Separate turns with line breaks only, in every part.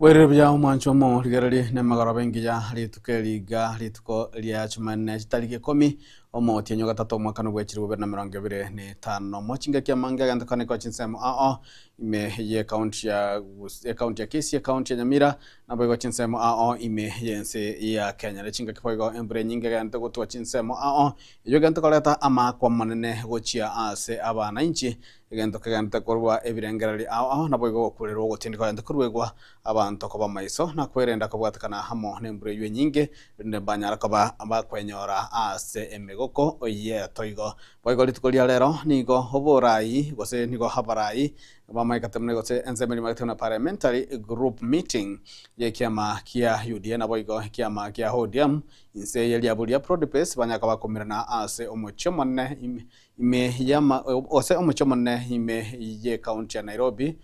Bwerire buya omwancho omo rigererie nemegoroba engiya rituko eriga rituko ria chimanene chitariki ikomi omotienyi o gatato omwaka nobwechiri bobere na merongo ebere na etano mochingaki amange agento kane kwa chinsemo ao ime ye county ya ya county ya Kisii county ya Nyamira naboigo chinsemo ao ime yense ya Kenya nechingaki boigo embura enyinge egento gotwa chinsemo ao eyo egento koreta amaakwa amanene gochia ase abana inche Egento kegenderete korwa ebirengererio ao ao naboigo ogokuurirwa ogotindi kogende korwa igwa, abanto koba amaiso na kwerenda kobwatekana amo nembura eyio enyinge, erinde mbanyare koba abakwenyora ase emegoko y'etoigo. Boigo rituko ria rero nigo oboraai gose nigo abaraai b'amagaika teemne gose ense emerimo ya teemne parliamentary group meeting y'ekiama kia UDA naboigo ekiama kia ODM inse ye riabu ria Prodipes banyare koba komirana ase omochie omonene ime Ime y'ama, gose omochie omonene ime y'ecounty ya Nairobi,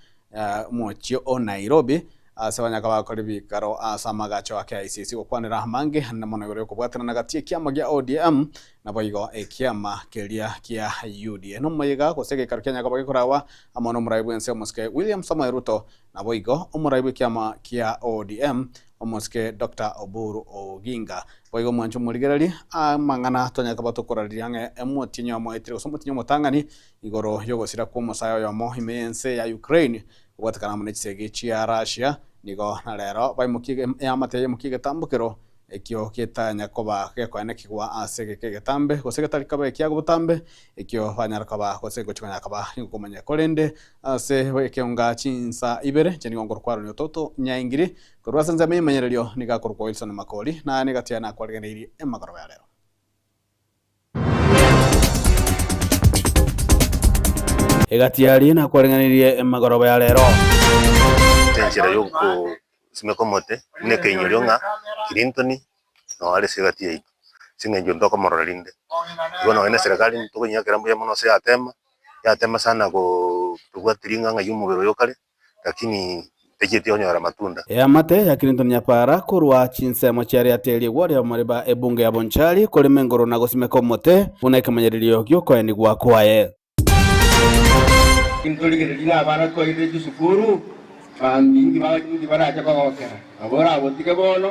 omochie o Nairobi, ase abanyaka bakore bikaro ase amagacho a KICC gokwanera amange ande mono igoro y'okobwatanana gati y'ekiama gia ODM naboigo ekiama keria kia UDA. Nomoyega gose egekaro kia nyakabao gekorawa amo nomuraia bw'ense omosike William Samoei Ruto, Naboigo omorai bw'ekiama kia ODM, omosike Doctor Oburu Oginga, boigo omwancho omorigereri aa amang'ana tonyare koba tokorariria ng'a emotienyi oyomoetire gose omotienyi omotang'ani igoro y'ogosira kw'omosae oyomo ime y'ense ya Ukraine kobwatekana amo ne chisegi chia Russia nigo na rero baimokia eamate yaimokia egetambokero ekio getanya koba gekoena kigwa ase egeka egetambe, gose getari koba ekia obotambe, ekio banyare koba, gose gochi konyara koba nigokomanya. Korende ase ekeonga chinsa ibere inche nigo nkorokwa Aaron Ototo Nyaingiri, korwa ase ensemo y'emanyererio nigo akorokwa Wilson Makori, na nigo tiga nakwaregereirie amagoroba ya rero. Egati aria nakwareng'anirie emegoroba ya reero.
Enchera y'ogosimeka omote buna ekeinyorio ng'a Clinton noo are ase egati yaito, ase eng'encho ntokomorora rinde. Igo nonye na eserekari ntokoinyakera mbuya mono gose yatema, yatema sana goo tobwati ring'ang'a yomobere oyo kare, lakini ntaicheti onyora amatunda. Eamate ya Clinton
yapara korwa chinsemo chia riata erio igwo ria omoriba ebunge ya Bonchari, korema engoro na gosimeka omote buna ekemanyererio gi'okoenigwa kwaye. Clinton
rigiretie abana koirire chisukuru, banto inki barache kogokera, nabo orabotige bono.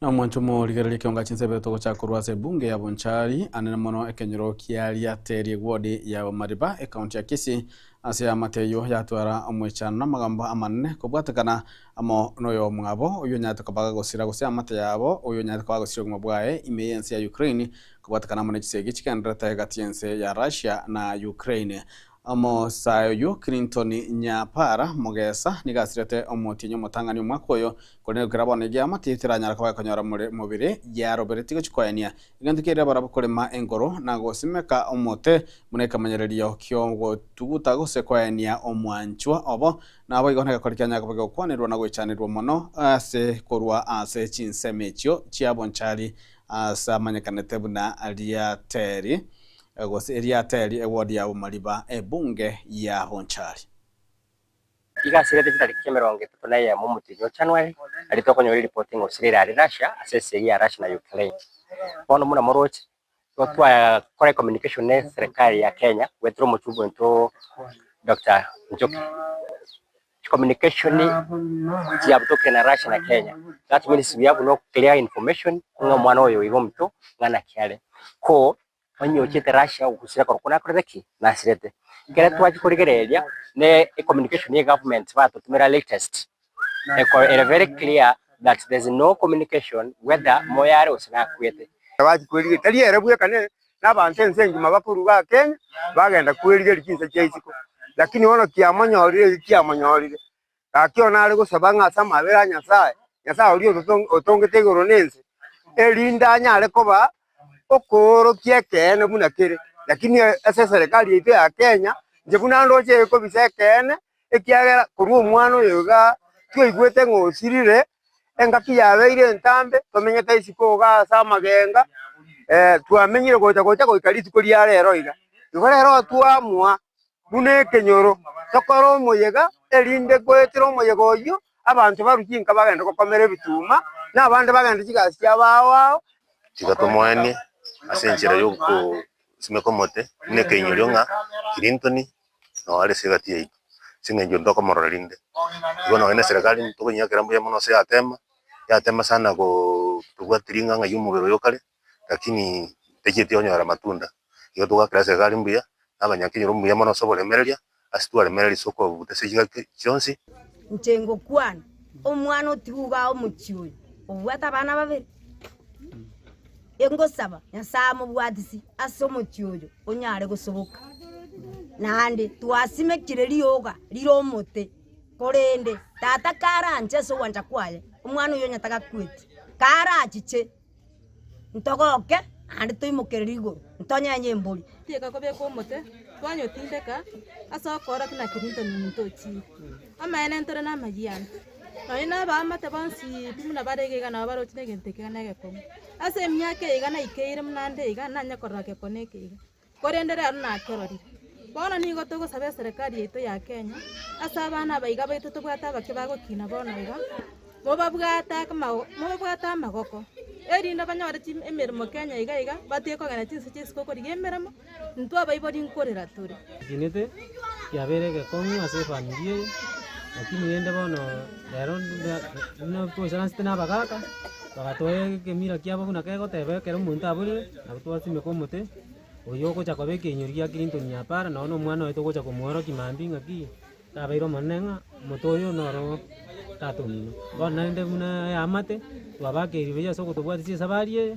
na omwancho morigereria kionga chinsebe togochaka korwa ase ebunge ya bonchari anene mono ekenyoro kiaria teri egwodi ya mariba ekaunti ya kisi ase amate eyo yatwara omwechano na amagambo amanene kobwatekana amo noyo mwabo oyo onyarete kobaga gosira gose amate yabo oyo onyarete kobaga gosira obogima bwaye ime yense ya ukraine Kobwatekana amo ne chisegi chigendererete egati y'ense ya Russia na Ukraine, omosae oyio Clinton Nyapara mogesa, nigo asirete omotienyi omotang'ani omwaka oyo, korende gokira bono egeama tigeranyara koba ekonyora more mobere yaroberetie gochia koenia egento kiarire abarabwo korema enkoro na gosimeka omote buna ekemanyererio ki'ogotuguta gose koenia omwanchwa obo. Naboigo negekori kianyare koba gegokwanerwa na goichanerwa mono ase korwa ase chinsemo echio chiabonchari Aase amanyekanete buna Ariateri, gose Eriateri, ewodi ya Bomariba, ebunge ya Bonchari.
Iga ase egati tariki emerongo etato na eyemo omotienyi o January, aria tokonyora eripoti ng'a Australia are Russia ase esegi ya Russia na Ukraine. Bono buna moroche, nigo twakora ecommunication ne eserekari ya Kenya goetera omochungu oito Doctor Njoki. Communication chia buna tokire na Russia na Kenya that means we have no clear information ng'a omwana oyo oiga omonto ng'a naki are ko onye ochete Russia ogosira korokwo nakorete ki nasirete ekero twachia korigereria ne communication ye government batotumera latest eko ere very clear that there is no communication whether moyo are gose nakwete. Twachia korigereria tari
ere bweka ne na abanto ense engima bakorwa bagakenya, bagenda kwerigeria chinsa chia isiko. Lakini bono kiamonyorire eki kiamonyorire, gaki one are gosaba ng'a ase amabera a Nyasae, Nyasae oria ototo- otongete igoro na ense, erinde anyare koba okoorokia ekeene buna kere. Lakini ase eserekari yaito ya Kenya, inche buna ndoche ekobisa ekeene, ekiagera korwa omwana oyo igaa twaigwete ng'a osirire, engaki yabeire entambe, twamenyete isiko iga ase amagenga, twamenyire gocha gocha goika rituko ria rero iga. Igo rero twamoa buna ekenyoro tokore omoyega, erinde goetera omoyega oyio abanto barwe chinka bagende gokomera ebituma, na abande bagende chigasi chia bao ao. Tiga tomoenie
ase enchera y'ogosimeka omote buna ekeinyorio ng'a Clinton Nao are ase egati yaito, ase engencho ntokomorora rinde. Igo nonya na eserekari ntokonyia kera mbuya mono ase yatema, yatema sana go tobwati ring'a ng'ai omobere oyo kare, rakini tacheti onyora matunda. Igo togakera eserekari mbuya, na abanyake nyora omuya mono ase oboremereria, ase twaremereria ase okobuta ase chigaki chionsi. Inche
ngokwana, omwana otiga iga omochie oyo, obwate abana babere. Ingosaba, Nyasae amobwatisi ase omochie oyo onyare gosoboka. Naende twasimekire rioga rire omote, korende tata karanche ase ogwancha kwaye, omwana oyio onye tagakweti, karachiche, ntogoke naende toimokerere igoro, ntonyenye embori. Tiga kobeka omote,
twanyo tindeka, ase okoorokia na Clinton nintochire. Amaene ntore namayia ane, nonya nabaamate bonsi pi buna bare iga iga nabo baroche negento ekio iga negekong'u. Ase emiaka eye iga naikeire buna nde iga, nanye korora gekong'u eke iga, korende rero nakerorire. Bono nigo togosaba eserekari yaito ya Kenya, ase abana abaiga baito tobwate abake bagokina bono iga, mobabwate akamago mobabwate amagoko, erinde banyore chim emeremo Kenya iga iga, batige kogenda chinse chia isiko korigia emeremo. Intwe abaibori nkorera tore. Egenete
kiabeire egekong'u ase efamiri eye, lakini rende bono rero nda- buna twaisaransete na abagaka, bagatoa egemira kiabo buna kegoteba ekero omonto aborire, nabo twasimeka omote, oyio ogocha koba ekenyori gia Clinton Nyapara, nonye na omwana oye togocha komoorokia mambia ng'a ki, kabeire omonene ng'a omote oyo noro tatomino. Bono naende buna eamate, twabakeirwe buya ase ogotobwatisia esabari eye.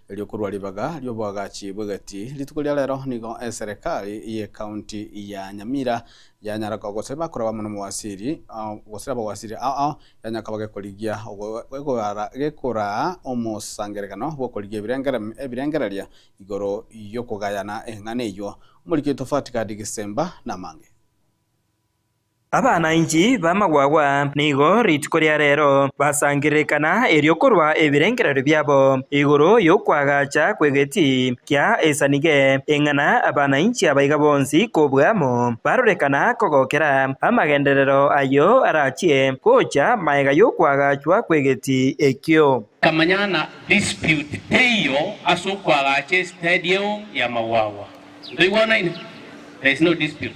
Erio korwa ribaga ri'oboagachi bw'egati rituko ria rero nigo eserekari y'Ekaunti ya Nyamira yanyara koba gose bakoraba amo n'omowasiri ao gose abawasiri ao ao yanyara koba gekorigia ogoara gekoraa omosangererekano bw'okorigia ebirengerem ebirengereria igoro y'okogayana eng'ana eyio. Omoriki Tofati Gadi Gisemba namange. Abana
inki b'amagwagwa nigo rituko ria reero basangererekana erio korwa ebirengererio biabo igoro y'okwagacha kw'egeti kia esanige, eng'ana abana inki abaiga bonsi kobua amo barorekana kogokera amagenderero ayio arachie gocha magega y'okwagachwa kw'egeti ekio. Kamanyana
dispute teiyo ase okwagacha estadium y'amagwagwa. Ntoigwanaine? There is no dispute.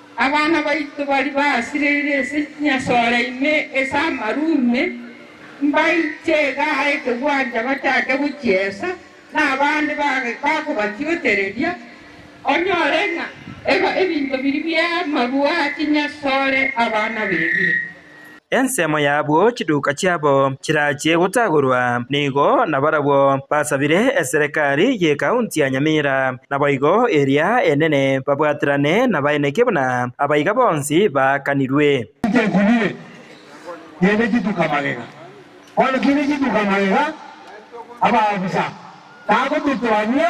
Abana baito baria basireire ase chinyasore ime ase amaru ime, mbaiche iga aye ekegwancha bachake gochiesa, na abande bakobachiotereria. Onyore ng'a ebinto biria bi'amaru a chinyasore abana bebire. Ensemo
y'abwo chiduka chiabo chirachie gotagorwa nigo nabarabwo basabire eserekari y'ekaunti ya Nyamira, naboigo eria enene babwaterane nabaeneki buna abaiga bonsi baakanirwe. Titekunire,
gende chituka magega. Bono kende chituka magega, abaofisa, tago totoania.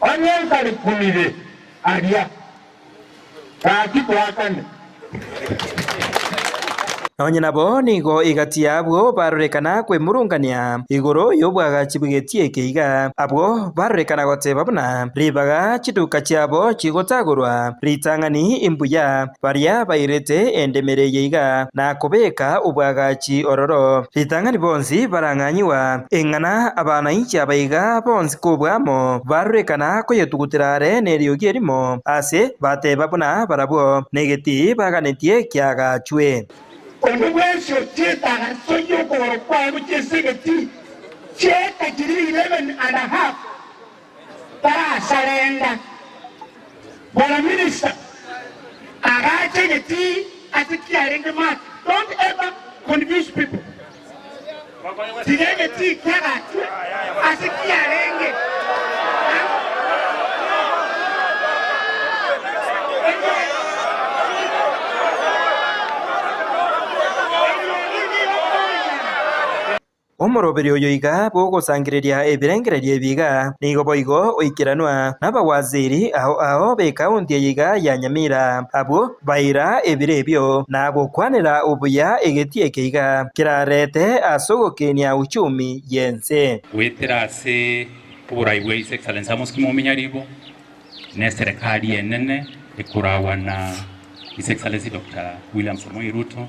Onye ntari kumire aria, gaki twakane.
Onye nabo nigo egati y'abwo barorekana kwemurungania igoro y'obwagachi bw'egeti eke iga, abwo barorekana goteba buna ribaga chiduka chiabo chigotagorwa ritang'ani imbuya. baria bairete endemere eye iga, na kobeka obwagachi ororo, ritang'ani bonsi barang'anyigwa, eng'ana abanainchi aba iga bonsi kobua amo barorekana koyetugutera are neriogi erimo, aase bateba buna barabwo, negetii baganetie kiagachwe. Onde bwensi
ochieta agaso y'okogoro kwao gochia ase egetii, chieta chiri eleven and a half. tarasarenda. Bwana minister agache getii ase kiarenge Mark don't ever confuse people tiga egetii kiagachwe ase kiarenge
Ang Omoroberi oyo iga bw'ogosangereria ebirengererio ebi iga, nigo boigo oikeranwa nabawaziri ao ao b'ekaunti eye iga ya Nyamira, abwo baira ebiro ebio na gokwanera obuya egetii eke iga kerarete ase ogokenia uchumi y'ense. Goetera ase
oborai bwa His Excellency Amos Kimo Ominyaribo, n'eserekari enene ekoragwa na His Excellency Doctor William Samoei Ruto,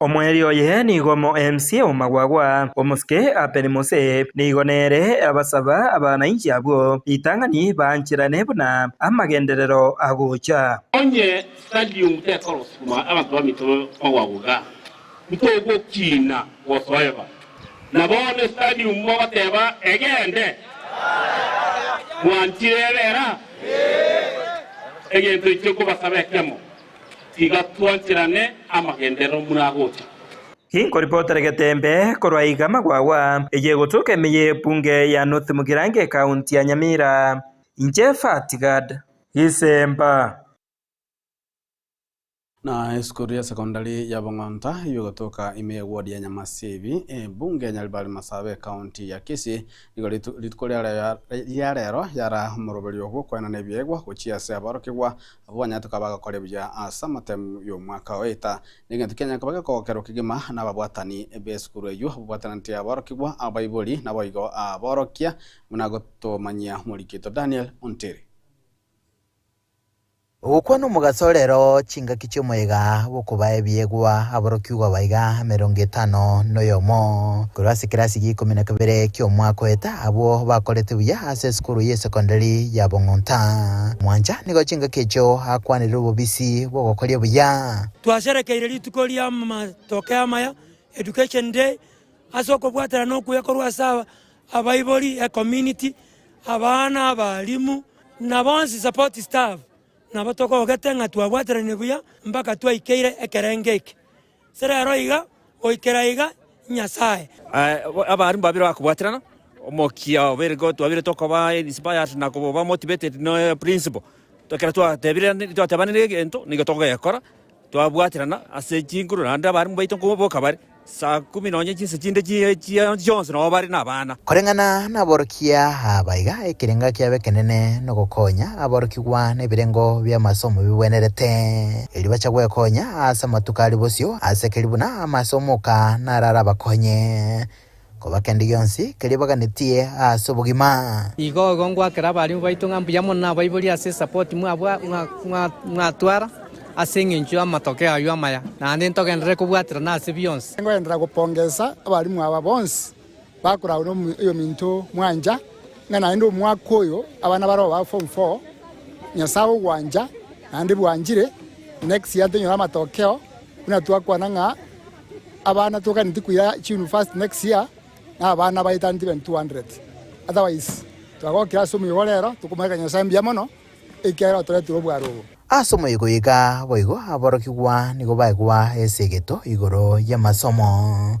Omoerio oye nigo omoemsi omagwagwa, omosike Abeli Mose nigo nere abasaba abana inche abwo, ritang'ani baancherane buna amagenderero agocha. Onye
stadium tekorosukuma abanto bamito bagwaguga, ntogokina gosoeba. Na bono stadium mogoteba egende? Mwanchire ebera? Egento inche nkobasaba ekiamo. Tiga twancherane amagenderero muragocha. Inkoripotere
Getembe korwa iga Magwagwa eye egoturuka emeye ye Bunge ya North Mugirango Ekaunti ya Nyamira. Inche Fat Gad. Isemba.
Na esukuru ya sekondari ya Bong'onta iyio egoturuka ime ye ward ya Nyamasibi, Bunge ya Nyaribari Masaaba Ekaunti ya Kisii. Nigo rituko ria rero yara omoroberio bw'okwenana ebiegwa gochia ase aborokigwa Abwo banyatoka bagakore buya ase amatemu y'omwaka oeta, n'egento kianya nkoba gekogokerwa kegima nababwatani b'esukuru eyio babwatananete aborokigwa, abaibori, naboigo aborokia, buna gotomanyia omorikito Daniel Ontiri.
Ogokwana omogaso orero chingaki chi'omoyega bw'okoba ebiegwa aborokigwa baiga emerongo etano noyomo. Korwa ase ekerasi gi'ikomi na kabere ki'omwaka oeta abwo bakorete buya ase esukuru y'esekondari ya Bong'onta, mwancha. nigo chingaki echio akwanire obobisi bw'ogokoria obuya. Twasherekeire rituko
ri'amatoke amaya, Education Day, ase okobwaterana okuya korwa ase abaibori, ecommunity, abana, abalimu, na bonsi support staff. Nabo togogete ng'a twabwateranirie buya mpaka twaikeire ekerenge eke. Serero iga, goikera iga, Nyasae. Abaarimu
babere bakobwaterana, Omokia obeire ko twabire tokoba inspired na koba motivated no principal, ekero twatebirani twatebanire egento nigo togekora, twabwaterana ase chinguru naende abaarimu baito nkoboka bare, saa kumi nonye chinsa chinde chie chia chionsi nabo bare na abana. Koreng'ana naborokia
aba iga, ekerengo kiab'ekenene nogokonya aborokigwa nebirengo bi'amasomo bigwenerete, erio bache gwekonya ase amatuko aria bosio, ase keria buna ama ase omoka nararabakonye koba kende gionsi keria baganetie ase obogima. Igo igo ngoakera
abarimu baito ng'a mbuya mono nabaiborie ase esapoti mwatwara ase engencho y'amatokeo ayio amaya, naende ntogenderere kobwaterana ase bionsi. Nkoenderera gopongesa
abarimu aba bonsi Bakoragwa noyominto mwancha, ng'a naende omwaka oyo abana baroo ba form four Nyasae ogwancha naende bwanchire, next year tonyore amatokeo buna twakwana ng'a abana toganeti koira chiuniversity next year na abana baetaneti bene 200. Otherwise twagokire ase omoyega ore ero, tokomoeaka Nyasae mbuya mono ekiagera otoretire obware obo. Ase omoyega oye iga
boigo aborokigwa nigo baegwa esegeto igoro y'amasomo.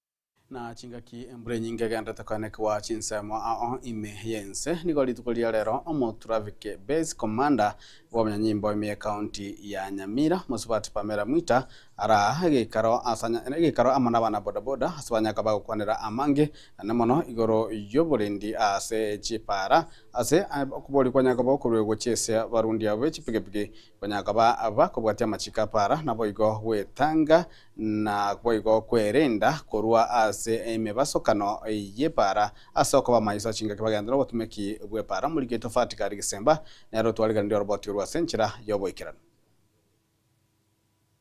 Na chingaki embura enyinge egenderete koenekigwa chinsemo ao ime y'ense, nigo rituko riria rero Omotraffic Base Commander bw'obonyanyimbo ime y'Ekaunti ya Nyamira, Mosubati Pamela Mwita, araa egeikaro asa egeikaro amo nabana bodaboda ase banya koba gokwanera amange ane mono igoro y'oborindi ase chipaara ase okobori kwanya koba okoruegwa chi'esia barundi abo b'echipigipigi Konya akaba bakobwatia amachiko a para, naboigo gwetanga, na boigo kwerenda korwa ase emebasokano y'epaara. Ase okoba amaiso a chingaki bagenderere nobotumeki bw'epaara, omoriketi ofatika rigesemba nere otwarigereria oroboti orwe ase enchera y'oboikeranu.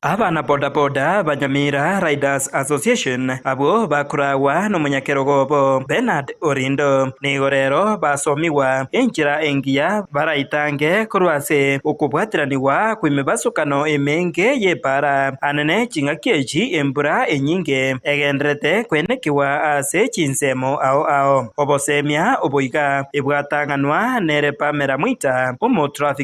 Abana
boda boda, Banyamira Riders Association, abwo bakoragwa nomonyakerogo obo Bernard Orindo, nigo rero basomigwa enchera engiya baraitange korwa ase okobwatiranigwa kw'emebasokano emenge y'epaara. Anene ching'aki echi embura enyinge egendererete koenekigwa ase chinsemo ao ao. Obosemia obo iga ebwatang'anwa nere Pamela Mwita, omo traffic.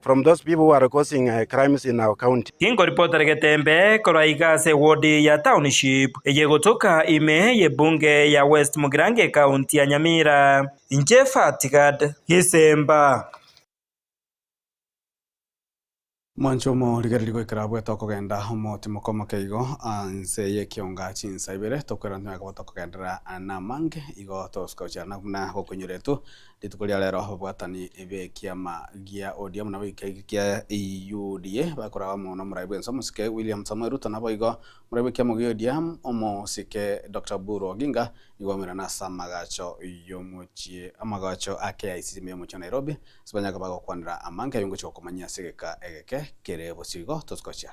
From those people who are causing crimes in our county. Ingo report regetembe
korwa iga ase ewodi ya Township eye egotoka ime y'ebunge ya West Mugirango ecounty ya Nyamira. Inche Fatgad Gisemba.
Mwanche omo rigereria goikera abwo tokogenda omotimo komoke igo anse yekionga chinsa ibere tokwera ntime akaba tokogenderera namange igo toskochana buna gokoinyoretwe Rituko ria reero ababwatani b'ekiama gia ODM na boika egi kia UDA bakoraba amo n'omorai bw'ense omosike William Samoei Ruto naboigo omorai bw'ekiamo gia ODM omosike Doctor Oburu Oginga nigo baumire nase amagacho y'omochie amagacho a KICC me omochie wa Nairobi ase banyage bagokwanera amanke ayio ngochia gokomanyia ase egeka egeke kere bosio igo tosi gochia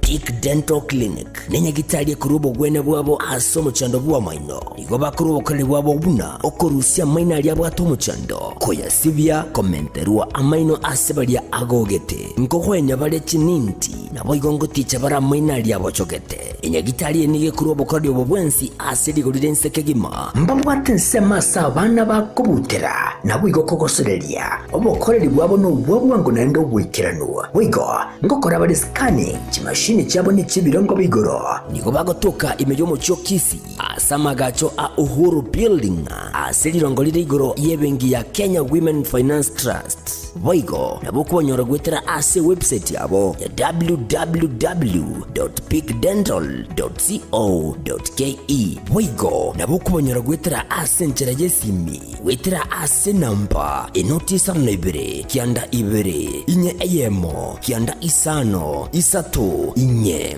Tick Dental Clinic nenyagitari ekorwa obogwene bwabo ase omochando bw'amaino. Nigo bakora obokoreri bwabo buna okorusia amaino aria abwate omochando, koyasibia, komenterwa amaino ase baria agogete, nkogoenya bare chininti, naboigo ngoticha bare amaino aria abochogete. Enyagitari eye nigo ekorwa obokoreri obo bwensi ase rigori ri'ense kegima. Mbabwate ensemo ase abana bakobutera, naboigo okogosoreria obokoreri bwabo nobwa bwango naende oboikeranu. Boigo ngokora bare scanning, chimashini chiabo nechi'ebirongo bia igoro. Nigo bagotoka ime y'omochie o Kisi, Ase amagacho a Uhuru Building ase riroongo rire igoro y'ebenki ya Kenya Women Finance Trust. Boigo nabwo konyora goetera ase ewebsaiti yabo ya www.peakdental.co.ke. Boigo nabwo konyora goetera ase enchera y'esimi goetera ase enamba enoti isano na ibere, kianda ibere, inye eyemo, kianda isano, isato, inye.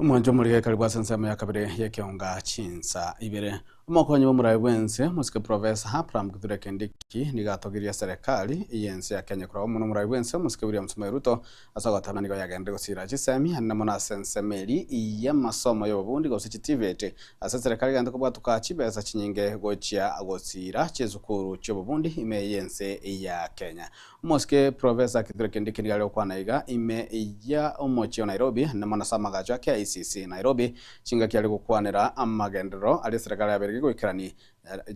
Omwancho omorike karibu ase ensemo ya kabere y'ekeonga chinsa ibere. Omokonyi b'omorabe bw'ense, omosike Professor Abraham Kithure Kindiki nigo atogirie serikali y'ense ya Kenya korwa omonwa omorabe bw'ense omosike William Samoei Ruto Ase ogotana nigo yagenderire gosira chisemi aane na mono ase ensemo eria y'amasomo y'obobundi gose chitiveti ase eserekari egento kobwatuka chibesa chinyinge gochia gosira chisukuru chi'obobundi ime y'ense ya Kenya. Omosike Professor Kithure Kindiki nigo are gokwana iga ime ya omochie o Nairobi aane na mono ase amagacho a KICC Nairobi chingaki are gokwanera amagenderero aria eserekari yabeire goikerania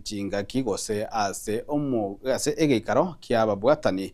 chingaki gose ase omo ase egeikaro ki'ababwatani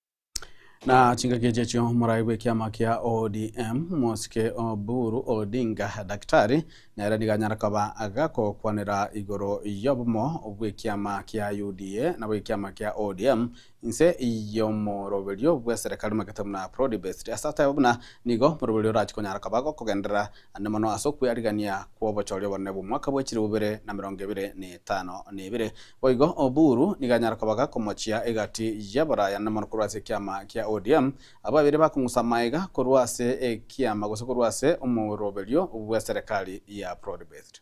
Na chingaki echi echio morai bw'ekiama kia ODM, Mosike Oburu Odinga, Daktari, nere nigo anyare koba agakokwanera igoro y'obomo bw'ekiama kia UDA nabo ekiama kia ODM inse y'omoroberio bw'eserekari omagete buna Prodi Best. Ase ataye buna nigo moroberio orachi konyara koba gokogenderera naende mono ase okweriarigania kw'obochori obonene bw'omwaka bwe chilifu ibere na emerongo ebere na etano na ebere. Boigo Oburu nigo anyare kobaga komochia egati y'abaraya naende mono korwa ase ekiama kia ODM, abwo babere bakong'usa amaega korwa ase ekiama gose korwa ase omoroberio bw'eserekari ya broad-based.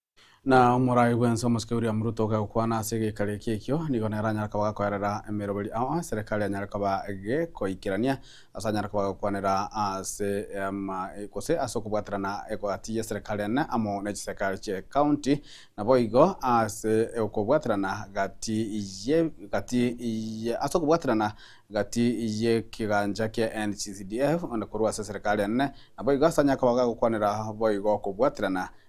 Na omorai bw'ense omosike William Ruto ogekwana ase egeikari eki ekio nigo nere anyare koba gakoerera emeroberi ao eserekari anyare koba gekoikerania ase anyare koba agokwanera ase ama gose ase okobwaterana egati y'eserekari ene amo ne chiserekari chie county naboigo ase okobwaterana gati ye gati ye ase okobwaterana gati y'ekegancha kia NGCDF onde korwa ase eserekari ene naboigo ase anyare koba gagokwanera boigo okobwaterana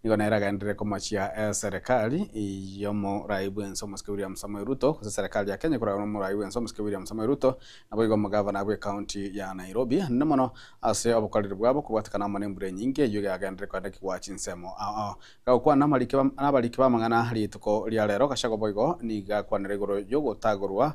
Nigo nere agenderere komachia eserekari y'omorai bw'ense omosike William Samoei Ruto, gose eserekari ya Kenya ekoragwa n'omorai bw'ense omosike William Samoei Ruto, naboigo omogavana bw'ecounty ya Nairobi. Nene mono ase obokoreri bwabo okobwatekana amo nembura enyinge eyio egagenderere koendekigwa chinsemo ao. Gagokwana n'abariki b'amang'ana rituko ria reero, gachagwa boigo nigo gakwanire igoro y'ogotagorwa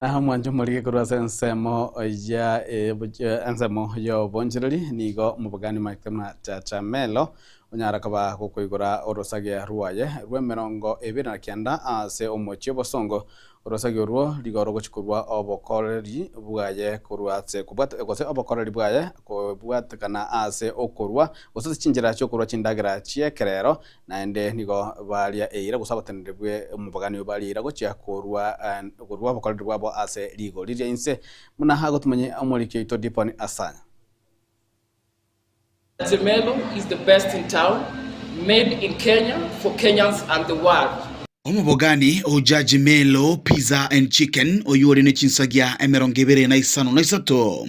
Na mwanche omorike korwa ase ensemo ya ensemo y'obonchereri, nigo omobogani Mike Machachamello onyara koba gokoigora orosagia rwaye rw'emerongo ebere na kianda ase omochie obosongo. Orosagia orwo rigo rogochia korwa obokoreri bwaye korwa ase kobwate gose obokoreri bwaye kobwatekana ase okorwa gose ase chinchera chi'okorwa chindagera chi'ekerero Naende nigo baria eira, gose abateneneri b'omobogani oyo baria eira gochia korua korua obokoreri bwabo ase rigori ria inse, buna agwo timanye omoriki oito Diponi Asanya.
Zemelo is the best in town, made in Kenya for Kenyans and the world. Omobogani
o Jajimelo Pizza and Chicken oyio ore ne chinsagia emerongo ebere na isano na isato.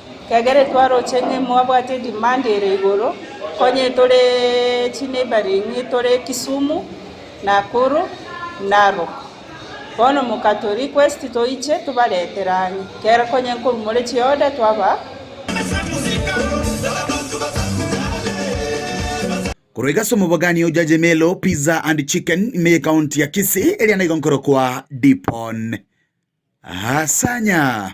Egere twaroche ng'a mwabwate demand ere igoro, konye tore chi neighbouring tore Kisumu, Nakuru, Narok. Bono mokato request toiche tobaretere ang'e, kera konye nkorwa more chi order twabaa.
Korwa iga ase omobogani o Judge Melo Pizza and Chicken ime ye County ya Kisii eria naigo nkorokwa Dipon Hasanya.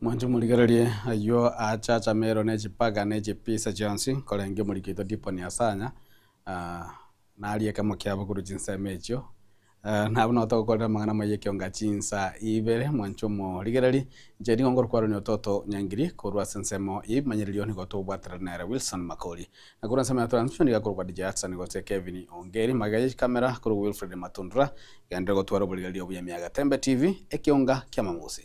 Mwanche morigererie ayio aache achamerwe ne chipaga ne chipisa chionsi, korende omoriki oito Diponi asanya, naria ekemo kiabo korwa chinsemo echio. Nabo nao togokorera amang'ana amaya ekionga chinsa ibere. Mwanche omorigererie, inche nigo ngorokwarania ototo nyangiri korwa ase ensemo ya ebimanyererio oo nigo togobwaterera nere Wilson Makori. Na korwa ensemo ya Transvision iga korokwa DJ Hudson gose Kevin Ongeri, magega ya chikamera korokwa Wilfred Matundura, iga ndire gotwara oborigererio obuya ime ya Gatembe TV, ekionga ki'amamusi.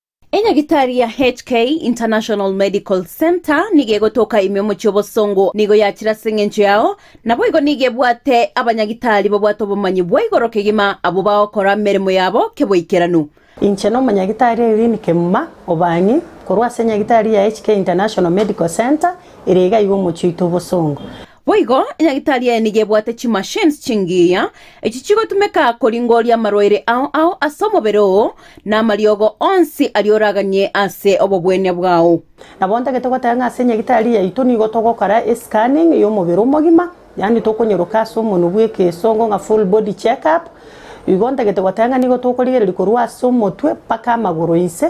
Enyagitari ya HK International Medical Centre nigo egotoka ime omochie obosongo, nigo yachire ase engencho yao, naboigo nigo ebwate abanyagitari babwate obomanyi bwa igoro kegima abwo bagokora emeremo yabo keboikeranu. Inche nomonyagitari
Irene Kemuma Obang'i korwa ase enyagitari ya HK International Medical Centre ere iga iga omochie oito obosongo. Boigo
enyagitari eye nigo ebwate chimachines chingiya, echio chigotumeka koringoria amarwaire ao ao ase omobere oo, na amariogo onsi aria oraganie ase obobwenia bwao. Nabo ntagete goteba
ng'a ase enyagitari yaito nigo togokora e-scanning y'omobere omogima, yaani tokonyeroka ase omonwe bw'ekeesongo ng'a full body check-up. Igo ntagete goteba ng'a nigo tokorigereria korwa ase omotwe mpaka amagoro inse.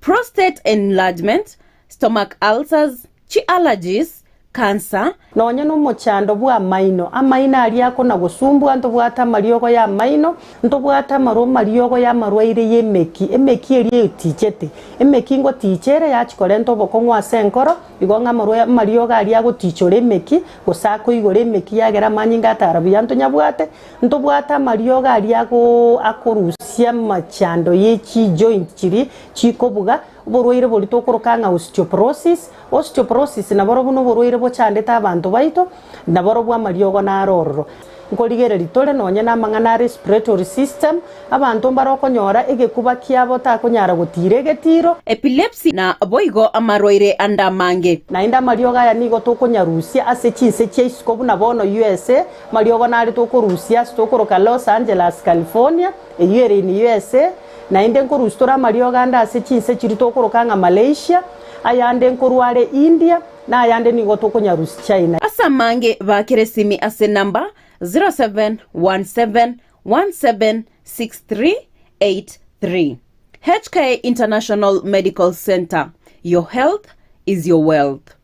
prostate enlargement, stomach ulcers, chi'allergies, cancer, Nonya nomochando
bw'amaino, amaino aria akona gosumbua, ntobwate amariogo y'amaino, ntobwate amarwa amariogo y'amarwaire y'emeki, emeki eria eyotichete, emeki ngotiicha ere yachi korenta obokong'u ase enkoro, igo ng'a amarwa amariogo aria agotiicha ore emeki, gose akoigora emeki yagera amanyinga atara buya ntonyabwate, Ntobwate amariogo aria akorusia amachando ye chijoint chiria chikobuga, oborwaire borito okoroka ng'a osteoporosis. Osteoporosis naborobwo noborwaire bochandete abanto baito, naborobwo amariogo naro ororo. Nkorigereria tore nonye namang'ana a respiratory system, abanto mbare okonyora egekuba kiabo otakonyara gotira egetiro. Epilepsy na
boigo amarwaire ande amange. Naende amariogo aya
nigo tokonyarusia ase chinse chia isiko buna bono USA, Mariogo narete okorusia ase tokoroka Los Angeles, California, eyio ere in USA, naende nkorusia tore amariogo ande ase chinse chiria tokoroka ng'a Malaysia, ayande nkorwa are India, na ayande nigo tokonyarusia China. Ase amange bakera
esimi ase number 0717176383. HK International Medical Centre, your health is your wealth.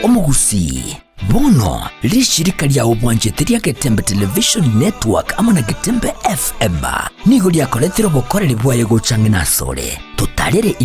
Omogusii, bono rishirika ria obwanchete ria Getembe Television Network amo na Getembe FM nigo riakoretire obokoreri bwaye gochang'ina asore. Totarere in